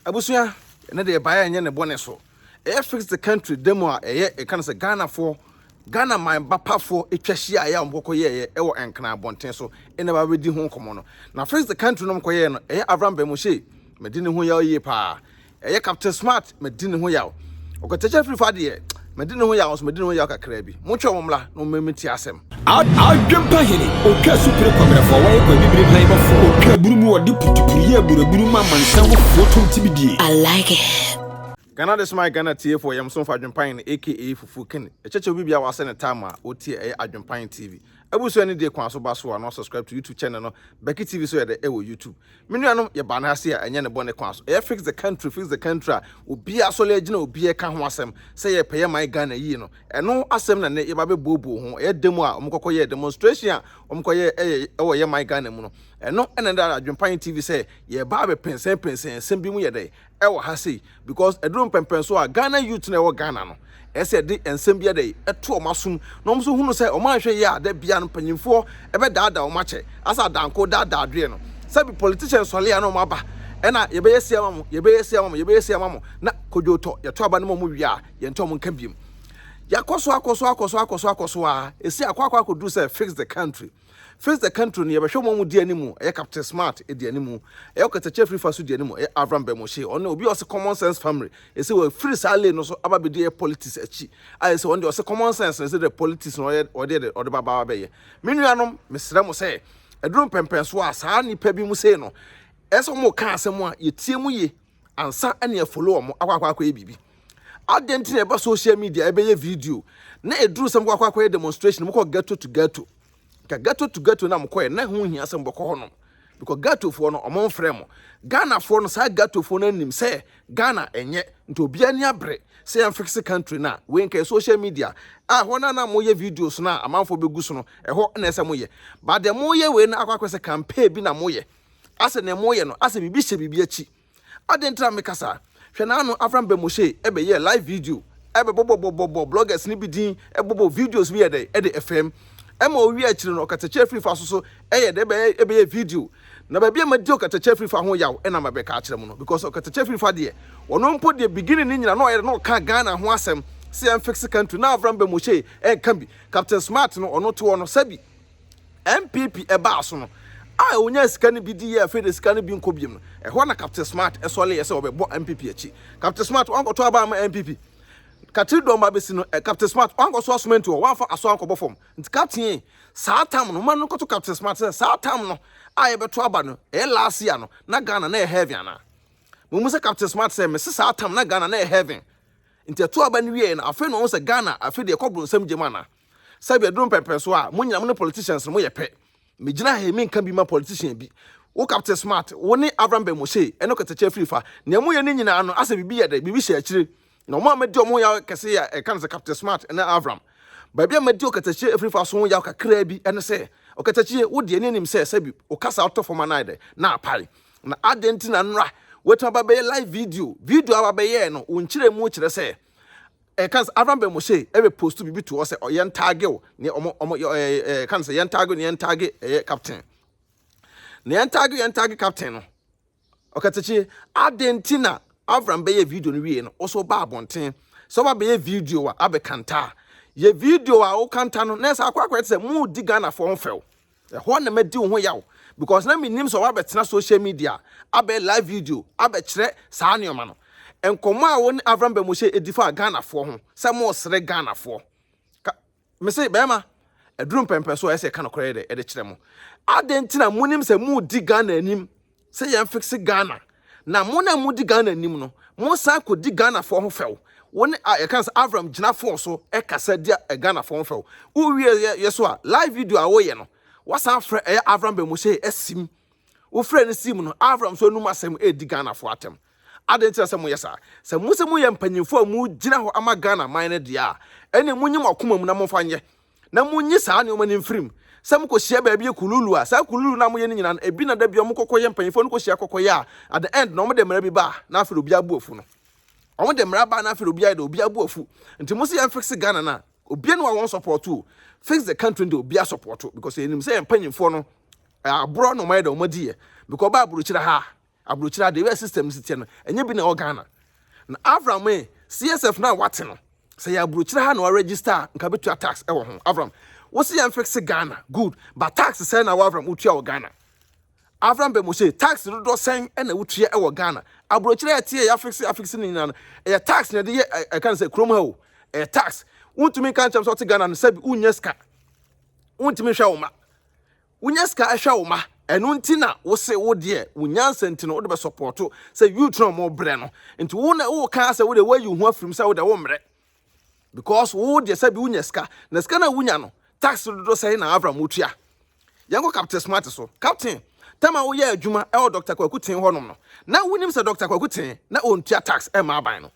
Abusua ne deɛ ɛbaeɛ nyɛ ne bɔne so. Ɛyɛ fix the country da mu a ɛyɛ ɛka no sɛ Ghanafoɔ, Ghana man ba pafoɔ ɛtwa hyiaeɛ a wɔkɔkɔ yɛeɛ ɛwɔ Nkran abɔnten so ɛna ɛba bɛdi ho nkɔmmɔ no. Na fix the country no wɔkɔyɛeɛ no ɛyɛ Avram Bamushie, medi ne ho yaw yie paa. Ɛyɛ Captain Smart, medi ne ho yaw. Ɔkwatɛkyɛ firi fa deɛ. Mede ne ho yaw nso, mede ne ho yaw kakraa bi. Montwɛn wɔn mmra, na wɔmma mentie asɛm. Adwempa hene, ɔtwa asupire kwabrɛfoɔ, wɔyɛ kwa bibire hwanbɔfoɔ, ɔtwa aburu mu, wɔde putupuru yɛ aburaburu ma amansan mufoɔ tom ti bidie. I like it. Ghana de soma Ghana tiefoɔ yam somfo Adwempa hene aka Fufuo King ɛkyɛkyɛw bi bia wasɛ ne time a ɔtie ɛyɛ Adwempa hene TV abusua ne die kwan so ba so a na wa subscribe to YouTube channel no Becky TV so yɛdɛ ɛwɔ YouTube Me nuanom yɛ baa no ha se a ɛnyɛ ne bɔne kwan so ɛyɛ fix the country fix the country a obiaa asɔle agyina obiaa ɛka ho asɛm sɛ yɛ pɛ yɛ man Ghana yie no ɛno asɛm na nnɛ yɛba bɛ buo buo ho ɛyɛ demo a wɔn kɔkɔ yɛɛ demonstration a wɔn kɔ yɛ ɛyɛ ɛwɔ yɛ man Ghana mu no ɛno ɛna ɛda adwenpayɛ TV sɛ yɛɛba abɛ pensɛn pensɛn asɛm bi mu yɛ dɛn ɛwɔ ha sei because ɛduru mpɛmpɛn so a Ghana youth na ɛwɔ Ghana no ɛsɛ ɛde nsɛm bi ɛdɛ ɛto wɔn asom na wɔn nso hunu sɛ wɔn anhwɛ yie a da bia no mpanyinfoɔ ɛbɛdaadaa wɔn akyɛ asɛ adanko daadaa adeɛ no sɛbi politician sɔle a na wɔn aba ɛna yɛbɛyɛ sei ama mo yɛbɛyɛ sei ama mo yɛbɛyɛ sei ama mo na kodwo tɔ yɛto aba no ma wɔn wie a yɛntɔ wɔn nka biom yɛakɔ so akɔ so akɔ so akɔ so akɔ so a ɛsi akɔ akɔ akɔduru sɛ fix the country Face the country no yɛbɛhwɛ wɔn a wɔdi anim, ɛyɛ Captain Smart di anim, ɛyɛ ɔkatakyia firi fa so di anim, ɛyɛ Avram Bemoshe, ɔno obi a ɔse common sense family, ɛsɛ wafiri saa lane no so aba abɛdi ɛyɛ politics akyi, a ɛsɛ ɔno deɛ ɔse common sense no ɛsɛ dɛ politics no ɔyɛ ɔde ɛde ɔde ba ba abɛyɛ. Me nuanom mesrɛ mo sɛ ɛduru mpɛmpɛnsoɔ a saa nnipa bi mu sei no ɛsɛ wɔn ka asɛm a yɛtie mu yie, ansa ne afolo wɔn akɔ akɔyɛ biribi adɛn nti na ɛba social media ɛbɛyɛ video na ɛduru sɛ mokɔ akɔyɛ demonstration mokɔ ghetto to ghetto ka ghetto to ghetto na mokɔɛ na ho hia sɛ mobɛkɔ hɔ nom because ghettofoɔ no ɔmo mfrɛ mo ghanafoɔ no saa ghettofoɔ no anim sɛ ghana ɛnyɛ nti obiara ni abere sɛ yɛmfixe country no a wei nka social media a hɔ no a na moyɛ videos no a amanfoɔ bɛgu so no ɛhɔ na ɛsɛ moyɛ but deɛ moyɛ wei no akɔ akɔ sɛ campaign bi na moyɛ asɛ nea moyɛ no asɛ biribi hyɛ biribi akyi adɛn nti na meka saa hwɛ naano Avram Bɛmɔhye ɛbɛyɛɛ live video ɛbɛbɔbɔbɔbɔbɔ bloggers no bi din ɛbɔbɔ videos bi yɛ dɛn ɛde ɛfɛm ɛma owie akyiri no ɔkatakyɛ afiri fa so so ɛyɛ dɛn ɛbɛyɛ ɛbɛyɛ video na baabi a madi ɔkatakyɛ afiri fa ho yaw ɛna mabɛka akyerɛ mo no because ɔkatakyɛ afiri fa deɛ ɔno mpo deɛ beginning ne nyina na ɔyɛ dɛn na ɔka Ghana ho asɛm sɛ yɛn fix country na Avram Bɛmɔhye ɛnka bi Captain Smart no ɔno te hɔ no sɛbi NPP baa so no, a onyaa sika no bi dii a afei de sika no bi nkɔ bio no, ɛhɔ na Captain Smart sɔreeɛ sɛ ɔbɛbɔ NPP akyi. Captain Smart wankɔtɔ aba ama NPP. Katiri dɔm ba bɛsi no, Captain Smart wankɔsoa cement hɔ, wamfa asoa ankɔbɔ fam. Nti Captain, saa tam no, ma no nkɔto Captain Smart sɛ saa tam no a yɛbɛto aba no, ɛyɛ last year no, na Ghana na ɛyɛ heaven anaa? Momu sɛ Captain Smart sɛ, mese saa tam na Ghana na ɛyɛ heaven. Nti ɛto aba no wieɛ no, afei na ɔhu sɛ Ghana afei de ɛkɔ bronsam gyam anaa? sɛbi ɛduru mpɛmpɛn so a mo nyina mo ne politicians no mo yɛ pɛ me gyina ha yi me nka bi ma politician bi wo captain smart wo ne avram ben moshe ɛne kɛtɛkyɛ afiri fa nea mo yɛ ne nyinaa no asɛ bibi yɛ dɛ bibi hyɛ akyire na ɔmo a madi ɔmo ho yaw kɛse yɛ ɛka no sɛ captain smart ɛne avram baabi a madi ɔkɛtɛkyɛ afiri fa so ho yaw kakraa bi ɛne sɛ ɔkɛtɛkyɛ wo deɛ ne anim sɛ sɛbi wo kasa ɔtɔ fam anaa dɛ na apae na adɛn nti na nnora wɔatumi aba bɛyɛ live video video a wabɛyɛɛ no wo nkyerɛ mu kyerɛ sɛ Eh kan sɛ Avram bɛ Moshe eh bɛ postu bibi to hɔ sɛ ɔ yɛn tagge o ne ɔmo ɔmo yɛ eh eh kan sɛ yɛn tagge ne yɛn tagge eh yɛ captain ne yɛn tagge yɛn tagge captain no ɔkɛtɛkye aden ti na Avram bɛ yɛ video no wie no ɔsɔ ba abɔnten sɛ ɔba bɛ yɛ video a abɛ kanta yɛ video a o kanta no na ɛsɛ akɔ akɔ yɛ te sɛ mo di Ghana fo ɔmo fɛw Ɛhɔ na madi wo ho yaw because na mennim sɛ woabɛtena social media abɛyɛ live video abɛkyerɛ saa nneɛma no. Nkɔmmɔ a wo ne Avram Bamuhyɛ di faa Ghanafoɔ ho sɛ mosere Ghanafoɔ. Ka, mese bɛrima, ɛduru mpɛmpɛso a ɛsɛ ɛka nokorɛ de kyerɛ mo. Adɛn nti na monim sɛ modi Ghana anim sɛ yɛn fixe Ghana na mo na mo di Ghana nim no mo san ko di Ghana fo ho fɛw wo ne a yɛka sɛ Avram gyina fo so ɛkasa di a Ghana fo ho fɛw wo wie yɛ yɛ so a live video a woyɛ no wasan frɛ ɛyɛ Avram Bɛmose ɛsim wo frɛ no sim no Avram so anum asɛm ɛdi Ghana fo atɛm adɛn nti na sɛ moyɛ saa sɛ mo sɛ moyɛ mpanyinfo a mo gyina hɔ ama Ghana man no deɛ a ɛne mo nyim ɔkoma mu na momfa nyɛ na monyi saa nneɛma no mfiri mu. Sɛ mokɔhyia baabi yɛ kululu a, saa kululu no a moyɛ no nyinaa no, ebi na da bi a wɔkɔkɔyɛ mpanyimfoɔ no kɔhyia kɔkɔyɛ a, at the end na wɔde mmara bi ba a, na afei de obiara bu afu no. Wɔde mmara ba a, na afei de obiara yɛ dɛ, obiara bu afu. Nti mo se yɛn fix Ghana no a, obiara ni hɔ a wɔn support o. Fix the country no deɛ obiara support because yɛnim sɛ yɛn mpanyimfoɔ no, eh, aborɔ na wɔayɛ dɛ wɔadi yɛ because ɔbaa aburokyire ha a, Aburokyire adeɛ wɛ system no si teɛ no ɛnyɛ bi na ɛwɔ Ghana na Avram ee CSF no a wate no sɛ yɛ aburokyire ha na waregister a nka bɛtua tax ɛwɔ ho Avram wosi yɛn fixe Ghana good but tax sɛn na wɔ Avram wotua wɔ Ghana Avram Bemose tax dodoɔ sɛn ɛna wotua ɛwɔ Ghana aburokyire ɛteɛ yɛ afixe afixe no nyinaa no ɛyɛ tax na ɛde yɛ ɛka no sɛ kurom ha o ɛyɛ tax wontumi nka nkyɛm sɛ ɔte Ghana no sɛbi wonyɛ sika wontumi nhwɛ wo ma Wonya sika hwɛ wo ma ɛno nti na wose wo deɛ wo nyansa nti no wode bɛ support sɛ youth no ɔmo brɛ no nti wo na wo kaa sɛ wo deɛ woayi wo ho afirim sɛ wo deɛ wo mmerɛ because wo deɛ sɛ bi wonya sika na sika na wonya no tax dodo sɛn na avram wotua yɛnkɔ captain smart so captain tama woyɛ adwuma ɛwɔ Dr. Kwaku Ten hɔnom no na wonim sɛ Dr. Kwaku Ten na ɔntua tax ɛma aban no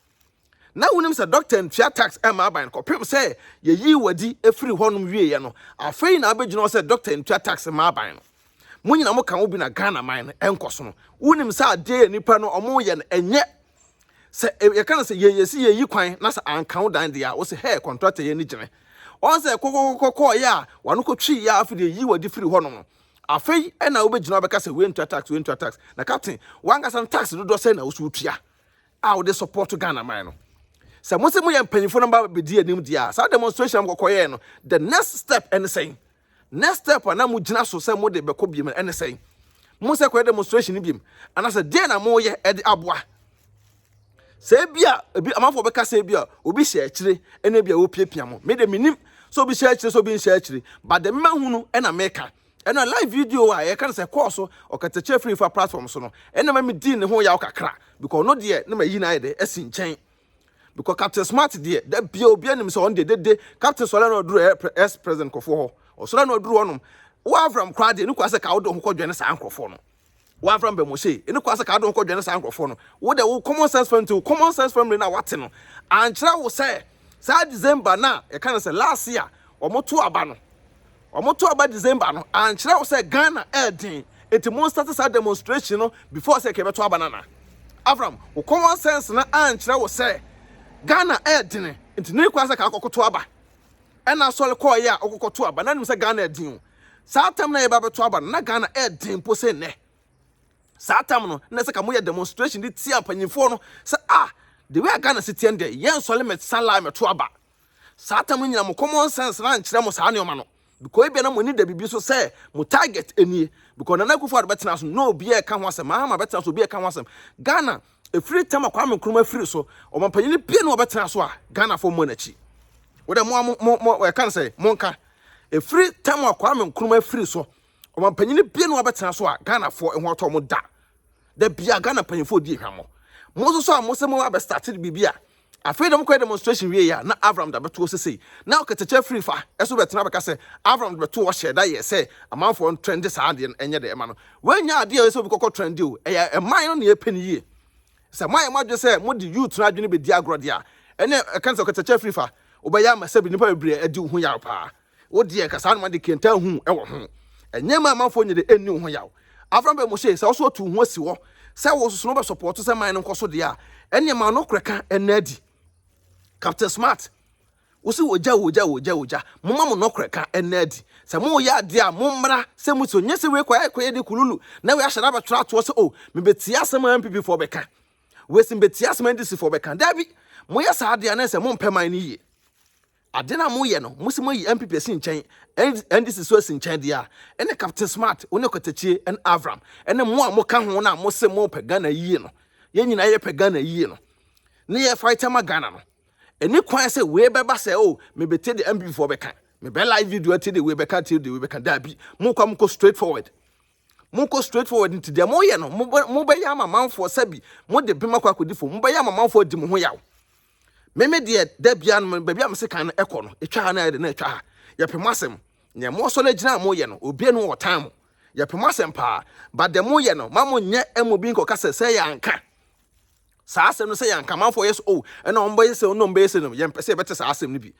Na wonim sɛ dɔkta ntua tax mma aban no kɔpem sɛ yɛyi wadi firi hɔnom wieɛ no, afei na abɛgyina hɔ sɛ dɔkta ntua tax mma aban no. Mo nyina mo ka wo bi na Ghana man no nkɔsono. Wonim sɛ adeɛ yɛ nipa no ɔmo yɛ no ɛnyɛ sɛ yɛka no sɛ yɛ yɛsi yɛyi kwan na sɛ anka wo dan deɛ a wo sɛ hɛɛ kɔntrata yɛ ni gyene. Ɔn sɛ kɔkɔkɔkɔ kɔɔyɛ a wano kɔtwii yɛ a afei deɛ yi wadi firi hɔnom no afei ɛna wobɛgyina abɛka sɛ wei ntua tax wei ntua tax na captain wankasa no tax dodoɔ sɛn na wo so wotua a wɔde support Ghana man no sɛ mo sɛ mo yɛ mpanyinfo no ba bedi anim di a saa demonstration a mokɔkɔ yɛɛ no the next step ɛne sɛn next step a na mo gyina so sɛ mo de bɛkɔ biem ɛne sɛn mo sɛ kɔyɛ demonstration no biem anaasɛ deɛ na mo yɛ ɛde aboa sɛ ebi a ebi amanfo bɛka sɛ ebi a obi hyɛ akyire ɛna ebi a wopiapia mo me de menim sɛ obi hyɛ akyire sɛ obi nhyɛ akyire but the mema hunu ɛna meka Ɛna live video a yɛka no sɛ kɔɔ so ɔkatakyɛ firi fa platform so no ɛna ma medii ne ho yaw kakra because no deɛ na mayi no ayɛ dɛ asi nkyɛn because captain smart deɛ da bia obi anim sɛ ɔno deɛ dede captain sɔre na ɔduru ɛs president nkurɔfoɔ hɔ ɔsɔre na ɔduru hɔnom woavram koraa deɛ ne kura sɛ ka wode ho kɔdwɛne saa nkurɔfoɔ no w'afra mbɛ mo se ene kwa se ka do hokɔ dwene saa nkorɔfoɔ no wo de wo common sense family to common sense family na wate no ankyerɛ wo sɛ saa December na yɛka no sɛ last year wɔn to aba no wɔn to aba December no ankyerɛ wo sɛ Ghana ɛɛden eti mo start saa demonstration no before sɛ kɛbɛto aba nana Avram wo common sense na ankyerɛ wo sɛ Ghana ɛɛden nti ne kwa sɛ ka akɔkoto aba ɛna asɔre kɔɔ yɛ a ɔkɔkɔto aba na nim sɛ Ghana ɛɛden o Saa tam no a yɛba bɛto aba no, na Ghana ɛyɛ den mpo sɛ nnɛ. Saa tam no, na ɛsɛ ka moyɛ demonstration de tia mpanyinfoɔ no sɛ ah, the way a Ghana si teɛ no deɛ, yɛn nsɔre mɛ san lie mɛto aba. Saa tam no nyina mo common sense no ankyerɛ mo saa nneɛma no. Because ebia na mo ani da biribi so sɛ mo target nie. Because Nana Akufo-Addo bɛtena so no, na obiara ɛka ho asɛm, Mahama bɛtena so, obiara ɛka ho asɛm. Ghana Ɛfiri tam a Kwame Nkrumah firi so, ɔmampanyini biara ni a ɔbɛtena so a Ghanafoɔ mmɔ n'akyi. Wodɛ mo a mo mo mo ɛka no sɛ monka. Ɛfiri tam a Kwame Nkrumah firi so, ɔmampanyini biara ni a ɔbɛtena so a Ghanafoɔ ɛho atɔ mo da. Da biara Ghana mpanyinfoɔ di ehwammɔ. Mo nso so a mo sɛ mo abɛstate biribi a Afei dɔm kɔyɛ demonstration wiei a, na Avram de abɛto hɔ sesei. Na ɔkatakyɛ afiri fa so bɛtena abɛka sɛ Avram de bɛtoo hɔ hyɛɛ da yɛɛ sɛ amanfoɔ ntrɛnde saa adeɛ no nyɛ dɛ ma no. Wannya adeɛ a ɛsɛ obi kɔkɔ trɛnde o, ɛyɛ ɛman no na yɛpɛ no yie. Sɛ moayɛ mo adwene sɛ mode youth no adwene bɛdi agorɔ deɛ a, ɛnneɛ ɛka ne sɛ ɔkatakyɛ afiri fa wobɛyɛ ama sɛbe nnipa bebree adi wo ho yaw paa. Wo deɛ nka saa noma de kenta ahu wɔ ho. Ɛnyɛ ma amanfoɔ nyɛ de ɛnni wo ho yaw. Afra bɛ mo se, sɛ wo so ɔtu wo ho asi hɔ sɛ wo soso no bɛ sɔpɔɔto sɛ man no nkɔ so deɛ a, ɛneɛ ma no korɛ ka ɛnna adi. Captain Smart, wo se wɔ gya wɔ gya wɔ gya wɔ gya, mo ma mo no korɛ ka ɛnna adi. Sɛ mo yɛ adeɛ a mo mmra sɛ mo so, nyɛ sɛ wei kɔ ɛkɔ yɛ de kululu na wei ahyɛ da bɛ twerɛ atoɔ sɛ o, me bɛ tie asɛm a NPP foɔ bɛ ka, wei se me bɛ tie asɛm a NDC foɔ bɛ ka. Daabi, mo yɛ saa adeɛ a na ɛsɛ mo mpɛ man no yie. Adeɛ no a moyɛ no, mose moayi NPP asi nkyɛn, NDC nso asi nkyɛn deɛ a, ɛne Captain Smart, wo ne Kwatakyie, ɛne Avram, ɛne mo a moka ho no a mose mopɛ Ghana yie no, yɛn nyinaa yɛpɛ Ghana yie no, ne yɛ fight ama Ghana no. Ɛni kwan sɛ wei bɛba sɛ oh, mebetie deɛ NPP foɔ bɛka, mebɛ live video atie deɛ wei bɛka atie deɛ wei bɛka, daabi, mokɔ a mokɔ straight forward. Mokɔ straight forward nti deɛ moyɛ no, mobɛ, mobɛyɛ ama manfoɔ sɛbi, mode bem akɔ akɔdi fam, mobɛyɛ ama manfoɔ adi mo ho yaw. Me me deɛ da bia no me- baabi a mese kan no ɛkɔ no ɛtwa ha na ɛde na ɛtwa ha yɛpɛ mo asɛm nea moasɔ no agyina a moyɛ no obia no wɔ ɔtan mo yɛpɛ mo asɛm paa but deɛ moyɛ no ma monyɛ ɛma obi nkɔka sɛ sɛ yɛanka saa asɛm no sɛ yɛanka amanfoɔ yɛ so o ɛna ɔmbɛyɛ sɛ ɔnom bɛyɛ sɛ no yɛmpɛ sɛ yɛbɛte saa asɛm no bi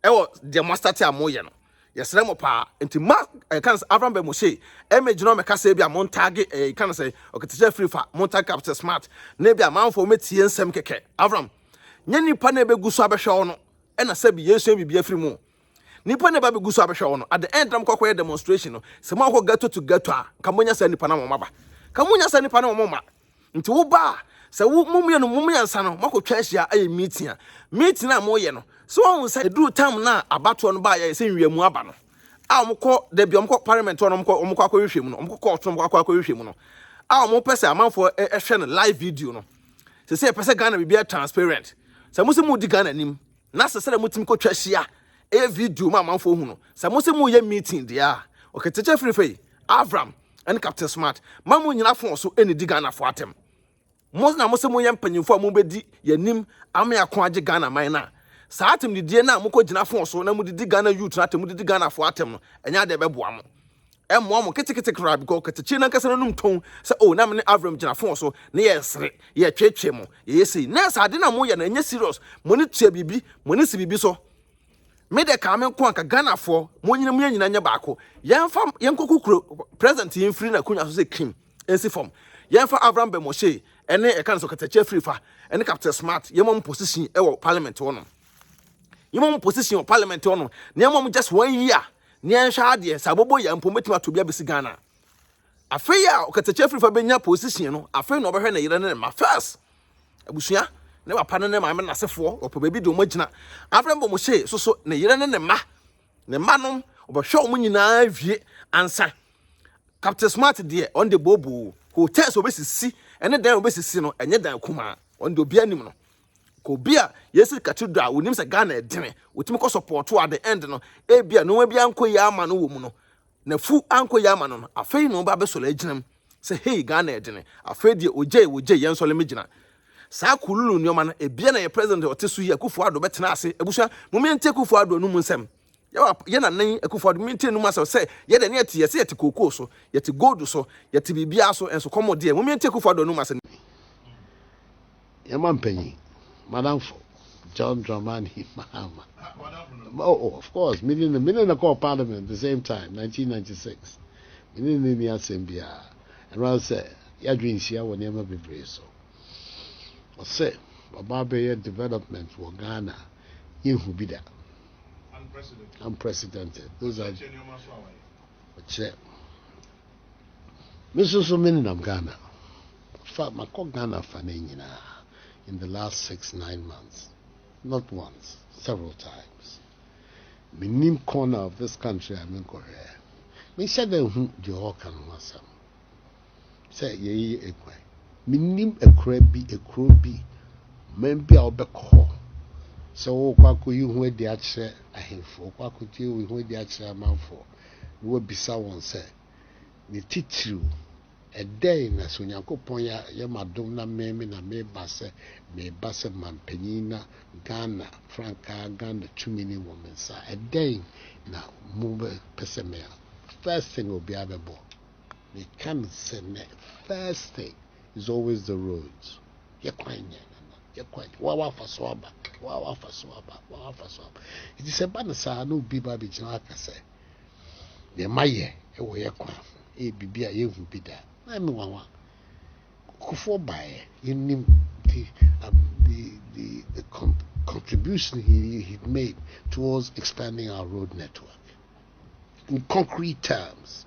ɛwɔ deɛ moastate a moyɛ no Yɛsrɛ mo paa, nti ma ɛyɛ kan sɛ Avram bɛ mo se, ɛmɛ gyina ɔmɛ kasa bi a mo ntaage ɛyɛ kan sɛ ɔketesɛ firi fa mo ntaage kapsɛ smart na ebi amanfoɔ mo tie nsɛm kɛkɛ Avram nyɛ nipa na ɛbɛ gu so abɛhwɛ wo no ɛna sɛbi yɛsua biribi afiri mu nipa na ɛbɛ abɛgu so abɛhwɛ wo no at the end na mo kɔkɔ yɛ demonstration no sɛ mo akɔ ghetto to ghetto a ka mo nya saa nipa na wɔn aba ka mo nya saa nipa na wɔn mma Nti wo ba a, sɛ wo mo mmienu mo mmiɛnsa no moakɔtwa ahyia ayɛ meeting a, meeting a moyɛ no, sɛ wahu sɛ ɛduru tam no a abatoɔ no baeɛ sɛ nwiamu aba no a wɔkɔ da bi wɔkɔ parliament hɔ no wɔkɔ wɔkɔ akɔhwehwɛ mu no wɔkɔ court no wɔkɔ akɔhwehwɛ mu no a wɔpɛ sɛ amanfoɔ hwɛ no live video no sɛ sɛ yɛpɛ sɛ Ghana biribiara transparent sɛ mo sɛ mo di Ghana anim Na sɛ sɛdeɛ motumi kɔtwa hyia ɛyɛ video ma amanfoɔ hu no sɛ mo sɛ moyɛ meeting deɛ a ɔkɛkyɛkyɛ firi fei Avram ɛne Captain Smart ma mo nyina fon so ɛnidi Ghanafoɔ atɛm mo na mo sɛ moyɛ mpanyinfoɔ a mobɛdi yɛnim ama yɛako agye Ghana man no a saa atɛmdidie no a mokɔgyina fon so na modidi Ghana youth no atɛm modidi Ghanafoɔ atɛm no ɛnyɛ adeɛ ɛbɛboa mo ɛmmoa mo ketekete koraa because katakyi no ankasa n'anum tɔn sɛ oh na me ne Avram gyina fon so na yɛresere yɛtwetwe mo yɛyɛ sei nurse ade na moyɛ no ɛnyɛ serious mo ne tua biribi mo ne si biribi so me de kaa me nko anka Ghanafoɔ mo nyina mo yɛ nyina nyɛ baako yɛmfa yɛnkɔ kukuro president yi mfiri n'akonnwa so sɛ kim nsi fam yɛmfa Avram Bɛmɔhyee ɛne ɛka no so katakyi afiri fa ɛne Captain Smart yɛma mo position ɛwɔ parliament hɔ nom yɛma wɔn position wɔ parliament hɔ no na yɛma wɔn just one year na yɛnhwɛ adeɛ sɛ abɔbɔ yɛ mpo mɛtumi ato bi abɛsi ghana afei a ɔkatakyɛ firifa bɛnya position no afei na ɔbɛhwɛ ne yere ne ne ma first abusua ne papa ne ne maame no asefoɔ ɔpɛ baabi de wɔn agyina afei mbɔ mo hyee so so ne yere ne ne ma ne ma nom ɔbɛhwɛ wɔn nyinaa wie ansa captain smart deɛ ɔn de booboo hotels obesisi ɛne dan obesisi no ɛnyɛ dan kumaa ɔn de obi anim no Ka obi a yɛsiri katidro a wonim sɛ Ghana ɛdene, wotumi kɔ sɔpɔɔto at the end no, ebi a nneɛma bi ankɔ yie ama no wɔ mu no, na fu ankɔ yie ama no no, afei na ɔba abɛsɔre agyinam sɛ hei Ghana ɛdene, afei deɛ ogyei ogyei yɛn sɔre megyina. Saa kululu nneɛma no, ebia na yɛ president a ɔte so yi Akufo-Addo bɛtena ase, abusua, mom yɛntie Akufo-Addo anom nsɛm. Yɛwɔ yɛ nana yi akufo ado mi ti enum asɛm sɛ yɛ deɛ ne yɛte yɛsɛ yɛte kookoo so yɛte gold so yɛte biribiara so ɛnso kɔmɔ deɛ mumie nti akufo ado anum asɛm no bi. Yɛn ma mpanyin madamfo John Dramani Mahama oh oh of course mene no mene no kɔɔ parliament the same time 1996 mene no ni asɛm biara ɛno ara sɛ yɛadwe nhyia wɔ nneɛma bebree so ɔsɛ ɔba abɛyɛ development wɔ Ghana yɛnhu bi da. unprecedented those are ɔkyerɛ me nso so me nenam ghana fa makɔ ghana fa no nyinaa in the last six nine months not once several times menim corner of this country a menkɔhwɛ menhyɛ dɛ hu deɛ ɔɔka no ho asɛm sɛ yɛyeyɛ akuraa yi. Mennim akuraa bi, kuro bi, ɔman bi a wobɛkɔ hɔ sɛ worekɔ akɔyi ho adi akyerɛ ahemfo, worekɔ akɔyi wo ho adi akyerɛ amanfoɔ, na woabisa wɔn sɛ, Ne titiriw, ɛdɛn na sɛ Onyankopɔn yɛ me adom na meme na meba sɛ mereba sɛ manpanin na Ghana frankaa, Ghana tumi no wɔ me nsa a, ɛdɛn na mobɛpɛ sɛ meyɛ? First thing a obiara bɛbɔ. Meka no sɛ nnɛ, first thing is always the roads. Yɛ kwan nyɛ nana, yɛ kwan nyɛ. Wa wafa so aba, wa wafa so aba, wa wafa so aba. Nti sɛ ba no saa na obi ba abɛgyina aka sɛ, deɛ ma yɛ wɔ yɛ kwan ho, ɛyɛ biribi a yɛhu bi da. Na ɛme wawa. Kukufoɔ baeɛ, yɛnim the, um, the, the, the con contribution he, he made towards expanding our road network in concrete terms.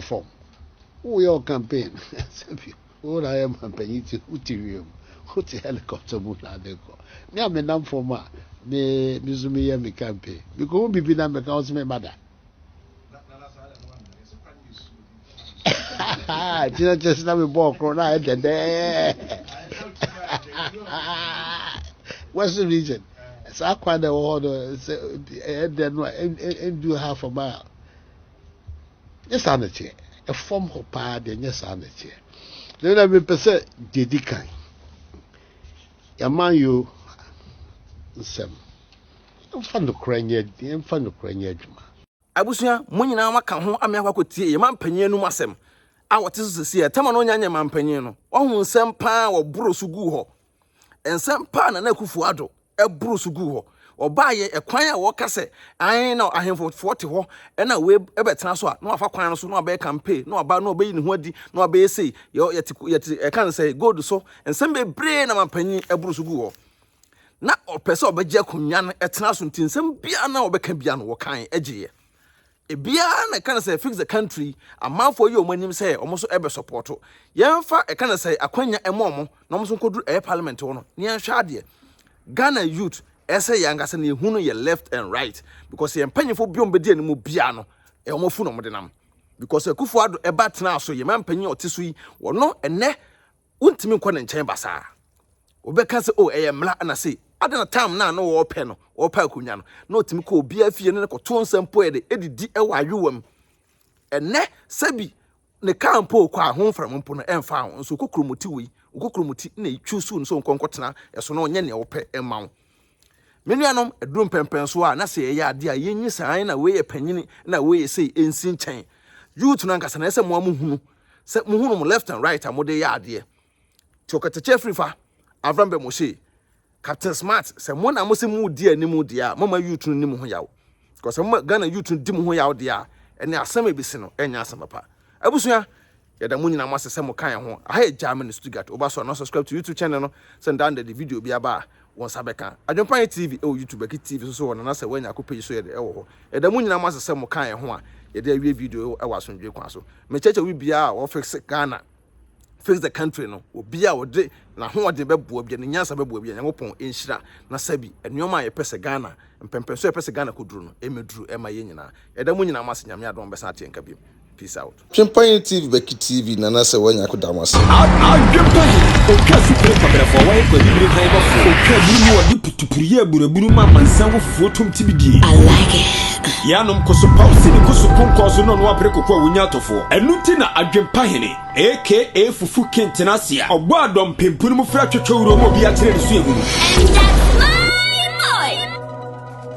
fam. Woyɛ wo campaign ansa bio. Wo na woyɛ mampanyin nti wote wiem, wote helicopter mu na ade kɔ. Me a menam fam a, me me nso meyɛ me campaign. Mikohu biribi na meka wo sɛ memma da. Kyerɛ kyerɛ sɛ na mebɔɔ koro na ayɛ dɛdɛɛ. Western region saa kwan na ɛwɔ hɔ no sɛ ɛyɛ dɛ no a ɛndu half a mile. Nyɛ saa na ɛteɛ. Ɛfam hɔ paa deɛ nyɛ saa na ɛteɛ. Deɛ na mepɛ sɛ deɛ di kan yɛman yo nsɛm yɛmfa nokorɛ nyɛ yɛmfa nokorɛ nyɛ adwuma. Abusua, mo nyinaa moaka ho ame akɔ akɔtie yɛn mampanyin anum asɛm a wɔte so sesie a Tɛma no nya nyɛ mampanyin no. Wahu nsɛm paa a wɔboro so guu hɔ. Nsɛm pa a Nana Akufo-Addo boro so guu hɔ, ɔbaa yɛ ɛkwan a wɔka sɛ ae na ahemfofoɔ te hɔ na wei bɛtena so a na wafa kwan no so na wabɛyɛ campaign na waba na ɔbɛyi ne ho adi na wabɛyɛ sei yɛte yɛte ɛka no sɛ gold so nsɛm bebree na mampanyin boro so guu hɔ na ɔpɛ sɛ ɔbɛgye akonnwa no ɛtena so nti nsɛm biara na ɔbɛka biara no wɔkan agyeeɛ Ebiaa na ɛka no sɛ fix the country amanfoɔ yɛ ɔmo anim sɛ ɔmo nso ɛbɛ sɔpɔɔto yɛn fa ɛka no sɛ akwanya ɛmɔ ɔmo na ɔmo nso nkɔduru ɛyɛ parliament hɔ no na yɛn hwɛ adeɛ Ghana youth ɛsɛ yɛn ankasa na yɛn hu no yɛ left and right because yɛn mpanyinfoɔ bi ɔmo bɛdi anim biaa no ɛyɛ ɔmo afu na ɔmo de nam because Akufo Addo ɛba tenaa so yɛn mpanyin ɔte so yi wɔno ɛnɛ wontumi nkɔ ne nkyɛn basaa wobɛka sɛ o ɛyɛ mmara na sei ada na tam no a na wɔrepɛ no wɔrepɛ akonnwa no na ɔtumi kɔ obiara fie no ne kɔto nsa mpo yɛ de ɛdidi wɔ ayewa mu ɛnɛ sɛbi ne kaa mpo ɔkɔ a ho mfram mpo no ɛmfa ho nso wokɔ kuromoti wei wokɔ kuromoti na ɛtwu so no sɛ nkɔnkɔtena ɛso na ɔnyɛ nea wɔpɛ ɛma wo Me nuanom, ɛduru mpɛnpɛn so a, na sɛ yɛyɛ adeɛ a, yɛnyi saa ara na wei yɛ panyini na wei yɛ sei ɛnsi nkyɛn. Youth no ankasa na ɛsɛ mo a mo hunu sɛ mo hunu mo left and right a mo de yɛ adeɛ. Ti ɔkatakyɛ firi fa, Avram bɛ mo se, Captain Smart, sɛ mo na mo se mo di anim deɛ a, mo ma youth no ni mo ho yaw. Because sɛ mo ma Ghana youth no di mo ho yaw deɛ a, ɛne asɛm a ɛbɛsi no ɛnyɛ asɛm papa. Abusua, Yɛda mo nyinaa mo ase sɛ mo ka yɛn ho. Aha yɛ Germany, Stuttgart. Wo ba so anaa? Subscribe to YouTube channel no sɛ daa no da de video bi aba a wo nsa bɛka. Adwempa yɛ TV ɛwɔ YouTube, Baki TV nso so wɔ nana sɛ woanya ko page so yɛde ɛwɔ hɔ. Yɛda mo nyinaa mo ase sɛ mo ka yɛn ho a yɛde awie video yi ɛwɔ asomdwoe kwan so. Me kyɛkyɛ obi biara a wɔ fix Ghana, fix the country no, obi a ɔde n'ahoɔden bɛboa bi a, ne nyansa bɛboa bi a, Nyankopɔn nhyira na sɛbi nnoɔma a yɛpɛ sɛ Ghana, mpɛmpɛnsoɔ a yɛpɛ sɛ Ghana kɔduru no ɛmɛduru ɛma yɛn nyinaa. Yɛda mo nyinaa mo ase, Nyame adom a mobɛsan ate yɛn nka biom. Peace out. Twen panyin TV bɛki TV nana sɛ wanya ko da mo ase. Adwen panyin otwa supire kwabrɛfoɔ wayɛ kwa bibire han bɔ foɔ. Otwa aburu mu ɔde putupuru yɛ aburaburu ma amansan wɔ fufuo tom tibi die. I like it. Yɛ anom koso paw sini koso konkɔɔ so na ɔno apere koko a wonya atɔfoɔ. Ɛno nti na adwen pahene aka fufu king tena ase a ɔbɔ adɔ mpempun mu frɛ twɛtwɛ wuro ma obi akyerɛ ne suahunu. And that's my boy!